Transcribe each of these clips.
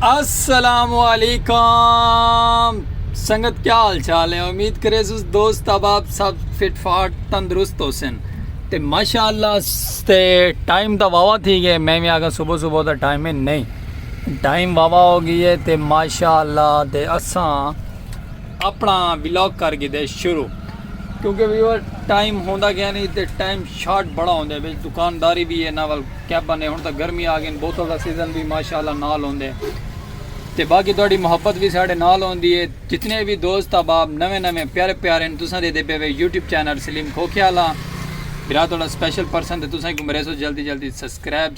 السلام علیکم سنگت کیا حال چال ہے امید کرے سوز دوست اب آپ سب فٹ فاٹ تندرست ہو سن تے ماشاءاللہ تے ٹائم دا واوا تھی گئے میں میں آگا صبح صبح دا ٹائم ہے نہیں ٹائم واوا ہو گی ہے تے ماشاء اللہ تے اساں اپنا ولاگ کر گی دے شروع کیونکہ ویور ٹائم ہوندا گیا نہیں تے ٹائم شارٹ بڑا ہوندے وچ دکانداری بھی ہے نا ول کیب بنے ہن تک گرمی آ گئی بوتل دا سیزن بھی ماشاءاللہ نال ہوندے تے باقی تہاڈی محبت بھی ساڈے نال ہوندی ہے جتنے بھی دوست احباب نویں نویں پیارے پیارے ہیں تساں دے دے پے وے یوٹیوب چینل سلیم کھوکھیالا برا تہاڈا سپیشل پرسن تے تساں کو میرے سو جلدی جلدی سبسکرائب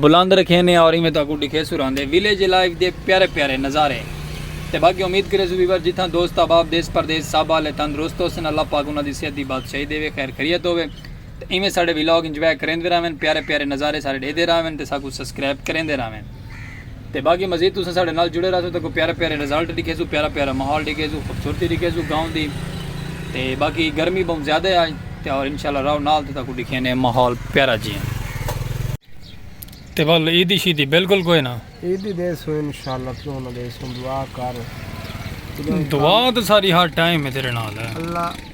بلند رکھینے اور ایویں تہاکوں ڈکھیسوں رہندے ویلیج لائف دے پیارے پیارے نظارے تے باقی امید کریسوں ویور جتھاں دوست احباب دیس پردیس سب آلے تندرست ہوسن اللہ پاک انہاں دی صحت دی بادشاہی دیوے خیر خیریت ہووے تے ایویں ساڈے ویلاگ انجوائے کریندے رہون پیارے پیارے نظارے سارے ڈیدے رہون تے ساکوں سسکرائب کریندے رہون۔ تے باقی مزید تساں ساڈے نال جڑے رہسو تے کوئی پیارے پیارے ریزلٹ ڈکھیسو پیارا پیارا ماحول ڈکھیسو خوبصورتی ڈکھیسو گاؤں دی تے باقی گرمی بہوں زیادہ ہے آج تے اور انشاءاللہ رہو نال تے تاکو ڈکھینے ماحول پیارا جیاں تے بل عیدی شیدی بالکل کوئی نہ عیدی دے سو انشاءاللہ تو انہاں دے سو دعا کر دعا تے ساری ہر ٹائم ہے تیرے نال ہے اللہ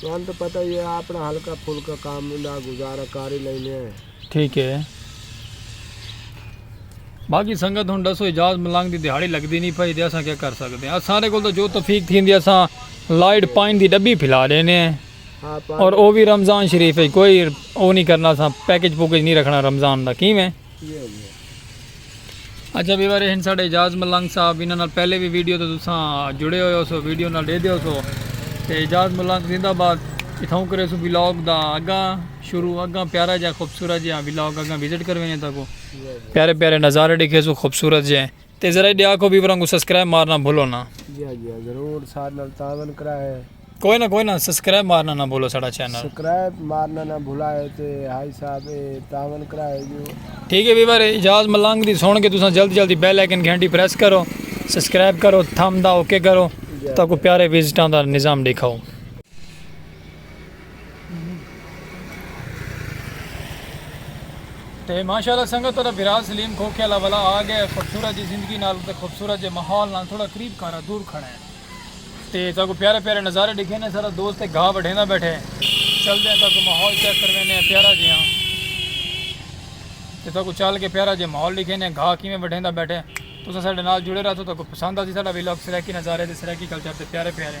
تہاݙے تاں پتہ ای اے آپݨا ہلکا پھلکا کم دا گزارا کر ای لیندے ہیں۔ ٹھیک اے۔ باقی سنگت ہݨ ݙسو اعجاز ملنگ دی دھیاڑی لڳدی نی پئی تے اساں کیا کر سڳدے ہیں۔ اساݙے کول تاں جو توفیق تھیندی اساں لائیٹ پائن دی ݙٻی پھلا ݙیندے ہیں۔ اور او وی رمضان شریف اچ کوئی او نی کرنا اساں پیکج پوکج نی رکھݨا رمضان دا کیویں؟ اچھا ویور ہن ساڈے اجاز ملنگ صاحب انہاں نال پہلے بھی ویڈیو تے تساں جڑے ہوئے ہو سو ویڈیو نال دے دیو سو تے اجاز ملنگ زندہ باد اتھاں کرے سو ولاگ دا اگاں شروع اگاں پیارا جا خوبصورت جا ولاگ اگاں وزٹ کروینے تاکو پیارے پیارے نظارے ڈیکھے سو خوبصورت جے تے ذرا ایڈے آکھو ویوران کوں سسکرائب مارنا بھلو نا۔ جی ہاں جی ہاں ضرور ساڈ نال تعاون کراہے۔ کوئی نا کوئی نا سسکرائب مارنا نا بھلو ساڈا چینل۔ سکرائب مارنا نا بھلاہے تے ہائی صاحب اے تعاون کراہے جو۔ ٹھیک ہے ویور اعجاز ملنگ دی سن کے تساں جلد جلد بیل آئیکن گھنٹی پریس کرو سبسکرائب کرو تھم دا اوکے کرو تاکو پیارے وزٹاں دا نظام ڈیکھاؤ۔ تے ماشاءاللہ سنگت تہاڈا بھرا سلیم کھوکھے والا والا آ گیا ہے خوبصورت جی زندگی نال تے خوبصورت جے ماحول نال تھوڑا قریب کھارا دور کھڑا ہے تے تا کو پیارے پیارے نظارے دکھے نے سارا دوست ایک گھا بڑھینا بیٹھے چل دے تا کو ماحول چیک کروے نے پیارا جی ہاں تے تا کو چل کے پیارا جے ماحول دکھے نے گھا کیویں بڑھینا بیٹھے تو سا ساڈے نال جڑے رہا تو تا کو پسند آ جی ساڈا ویلوگ سرائیکی نظارے تے سرائیکی کلچر تے پیارے پیارے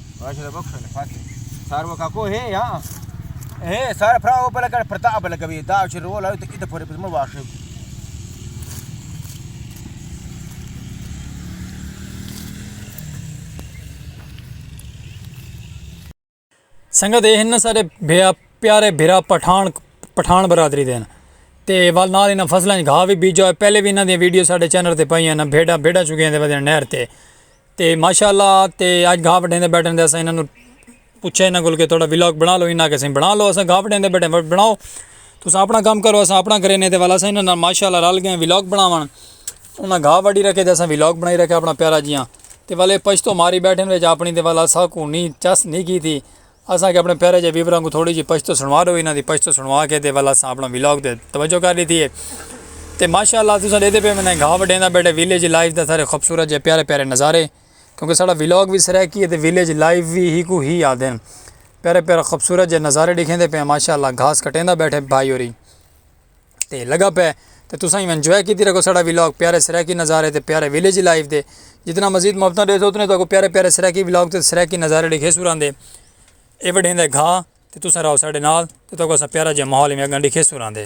ماشاءاللہ بخش نے فاتح سارو کا کو ہے یا ہے سارا فرا او پلا کر پرتا بل گوی دا چھ رول ہے تے اد پھر بزم واش ہے سنگت اے ہن سارے بھیا پیارے بھرا پٹھان پٹھان برادری دین تے وال نال انہاں فصلاں گھا وی بیجا پہلے وی انہاں دی ویڈیو ساڈے چینل تے پائی ہیں نا بھیڑا بھیڑا چکے ہیں تے ودے نہر تے تے ماشاء اللہ تے اج گھا وڈھین دے بیٹھن دے اساں انہاں کوں پوچھے انہاں کول کہ تہاڈا ولاگ بنا لو انہاں آکھیا بنا لو اساں گھا وڈھین دے بیٹھے آں بناؤ تساں اپنا کم کرو اساں اپنا کرے نے تے ول اساں انہاں نال ماشاء اللہ رل گئے ولاگ بناون انہاں گھا وڈھی رکھے تے اساں ولاگ بنائی رکھیا اپنا پیارا جیاں تے ول اے پشتو ماری بیٹھن وچ اپنی تے ول اساکوں نی چس نی کیتی اساں کے اپنے پیارے جے ویوراں کوں تھوڑی جی پشتو سنڑوا ڈو انہاں دی پشتو سنڑوا کے تے ول اساں اپنا ولاگ تے توجہ کر ڈیتی ہے تے ماشاءاللہ تساں ڈیدھے پے ونے گھا وڈیندا بیٹھے ویلیج لائف دا سارے خوبصورت جے پیارے پیارے نظارے کیونکہ ساڈا ولاگ وی سرائیکی ہے تے ویلیج لائف وی ہی کو ہی آدھے پیارے پیارے خوبصورت جے نظارے ڈکھیندے پے ہیں ماشاءاللہ گھاس کٹیندا بیٹھے بھائی ہوری۔ تے لگا پئے تے تساں ایویں انجوائے کیتی رکھو ساڈا ولاگ پیارے سرائیکی نظارے تے پیارے ولیج لائف دے جتنا مزید محبتاں ڈیسو اتنے تو پیارے پیارے سرائیکی ولاگ تے سرائیکی نظارے ڈیکھے سو راندے اے وڈھیں دے گھا تے تساں راہو ساڈے نال تے تو اساں پیارا جے ماحول ایویں اگاں ڈیکھے سو راندے۔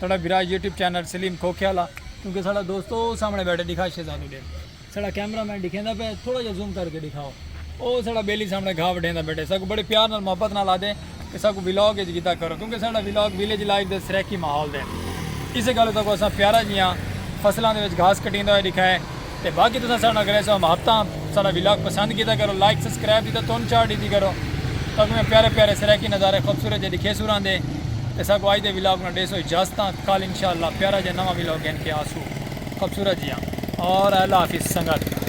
ساڑا برا یوٹیوب چینل سلیم کھوکھے والا کیونکہ ساڑا دوست او سامنے بیٹھے دکھا شہزادو ڈیکھ ساڑا کیمرہ مین دکھیندا پہ تھوڑا جا زوم کر کے دکھاؤ او ساڑا بیلی سامنے گھا وڈھیندا بیٹھے ساکو بڑے پیار نال محبت نال آدے کہ ساکو ولاگ اچ گھدا کرو کیونکہ ساڑا ولاگ ویلیج لائف دے سرائیکی ماحول دے اسے گالو ساکو اساں پیارا جیاں فصلاں دے وچ گھاس کٹیندا ہوئے دکھائے تے باقی تساں ساڈے نال کرے سو محبتاں ساڈا ولاگ پسند کیتا کرو لائک سبسکرائب دی تاں تن چاڑ ڈیتی کرو تاکوں میں پیارے پیارے سرائیکی نظارے خوبصورت جے ڈکھے سو راندے تے ساکوں اج دے ولاگ نال ڈے سو اجازتاں کل انشاءاللہ پیارا جے نواں ولاگ گھن کے آسو خوبصورت جیاں اور اللہ حافظ سنگت۔